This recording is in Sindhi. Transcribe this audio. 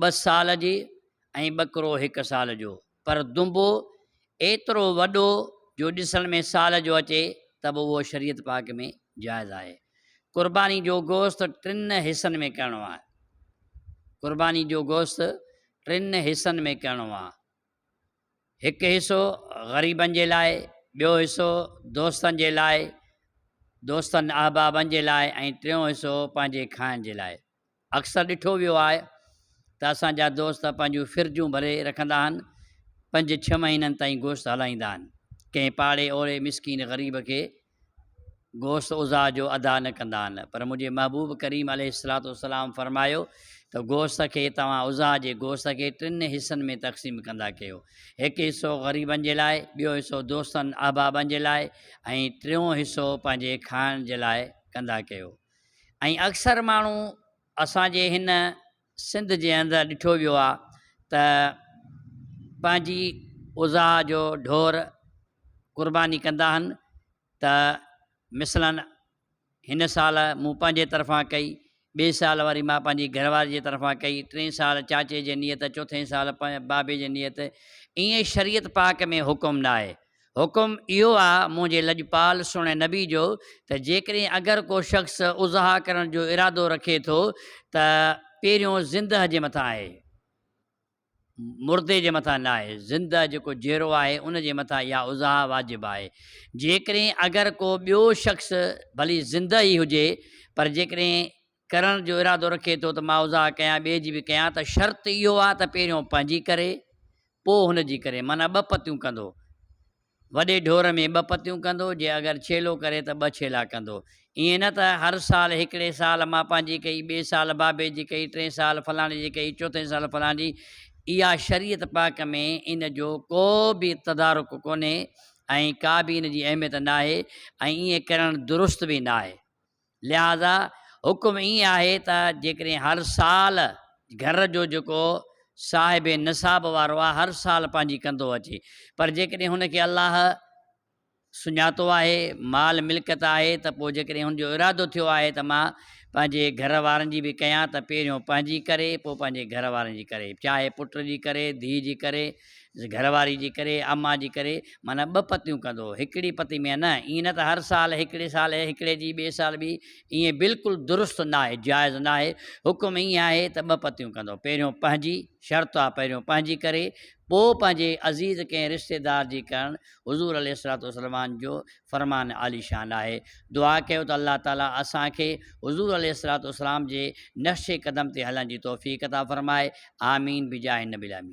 ٻه سال جي ۽ ٻڪرو هڪ سال جو، پر دنبو ايترو وڏو جو ڏسڻ ۾ سال جو اچي ته به اهو شريعت پاڪ ۾ جائز آهي. قرباني جو گوشت ٽن حصن ۾ ڪرڻو آهي. قرباني جو گوشت ٽن حصن ۾ ڪرڻو آهي. هڪ حصو غريبن جي لاء، ٻيو حصو دوستن جي لاء، دوستن احبابن جي لاء ۽ ٽيون حصو پنهنجي کائڻ جي لاء. اڪثر ڏٺو ويو آهي ته اسان جا دوست پنهنجون فرجون ڀري رکندا آهن، پنج ڇهه مهينن تائين گوشت هلائيندا آهن، ڪنهن پاڙي اوري مسڪين غريب کي گوشت عضا جو ادا نه ڪندا آهن، پر منهنجي محبوب ڪريم عليه الصلوة والسلام فرمايو ته گوشت کي توهان عضا جي گوشت کي ٽن حصن ۾ تقسيم ڪندا ڪيو، هڪ حصو غريبن جي لاء، ٻيو حصو دوستن احبابن جي لاء ۽ ٽيون حصو پنهنجي کائڻ جي لاء ڪندا ڪيو. ۽ اڪثر ماڻهو اسان جي هن سنڌ جي اندر ڏٺو ويو آهي ته پنهنجي اضحيٰ جو ڍور قرباني ڪندا آهن ته مثلاً هن سال مون پنهنجي طرفان ڪئي ٻئي سال وري مان پنهنجي گهر واري جي طرفان ڪئي ٽئين سال چاچي جي نيت چوٿين سال بابي جي نيت ائين شريعت پاڪ ۾ حڪم ناهي حڪم اهو آ منهنجي لڄپال سهڻي نبي جو ته جيڪڏهن اگر ڪو شخص اضحيٰ ڪرڻ جو ارادو رکي ٿو ته پهريون زندهه جي مٿان آهي مردي جي مٿان نه آهي زندهه جيڪو جيرو آهي ان جي مٿان اها اضحيٰ واجب آهي جيڪڏهن اگر ڪو ٻيو شخص ڀلي زندهه ئي هجي پر جيڪڏهن ڪرڻ جو ارادو رکي ٿو ته معاوضه ڪيان ٻئي جي به ڪيان ته شرط اهو آهي ته پهريون پنهنجي ڪري پوء هن جي ڪري معنيٰ ٻه پتيون ڪندو وڏي ڍور ۾ ٻه پتيون ڪندو جي اگر ڇيلو ڪري ته ٻه ڇيلا ڪندو ائين نه ته هر سال هڪڙي سال مان پنهنجي ڪئي ٻئي سال بابي جي ڪئي ٽئين سال فلاڻي جي ڪئي چوٿين سال فلاڻي جي اها شريعت پاڪ ۾ ان جو ڪو به تدارڪ ڪونهي ۽ ڪا به ان جي اهميت ناهي ۽ ائين ڪرڻ درست به ناهي. لهٰذا حڪم ائين آهي ته جيڪڏهن هر سال گهر جو جيڪو صاحب نصاب وارو آهي هر سال پنهنجي ڪندو اچي پر جيڪڏهن هن کي الله سڃاتو آهي مال ملڪيت آهي ته پوء جيڪڏهن هن جو ارادو ٿيو آهي ته مان پنهنجي گهر وارن جي به ڪيان ته پهريون پنهنجي ڪري پوء پنهنجي گهر وارن جي ڪري چاهي پٽ جي ڪري ڌيء جي ڪري گهر واري جي ڪري اما جي ڪري معنيٰ ٻه پتيون ڪندو هو هڪڙي پتي ۾ نه ائين نه ته هر سال هڪڙي سال هڪڙي جي ٻئي سال ٻي ائين بلڪل درست ناهي جائز ناهي حڪم ائين آهي ته ٻه پتيون ڪندو پهريون پنهنجي شرط آهي پهريون پنهنجي ڪري پوء پنهنجي عزيز ڪنهن رشتيدار جي ڪرڻ حضور عليه الصلاة والسلام جو فرمان عالي شان آهي دعا ڪيو ته الله تعالي اسان کي حضور عليه الصلاة والسلام جي نقش قدم تي هلڻ جي توفيق عطا فرمائي آمين بجاه النبي الامين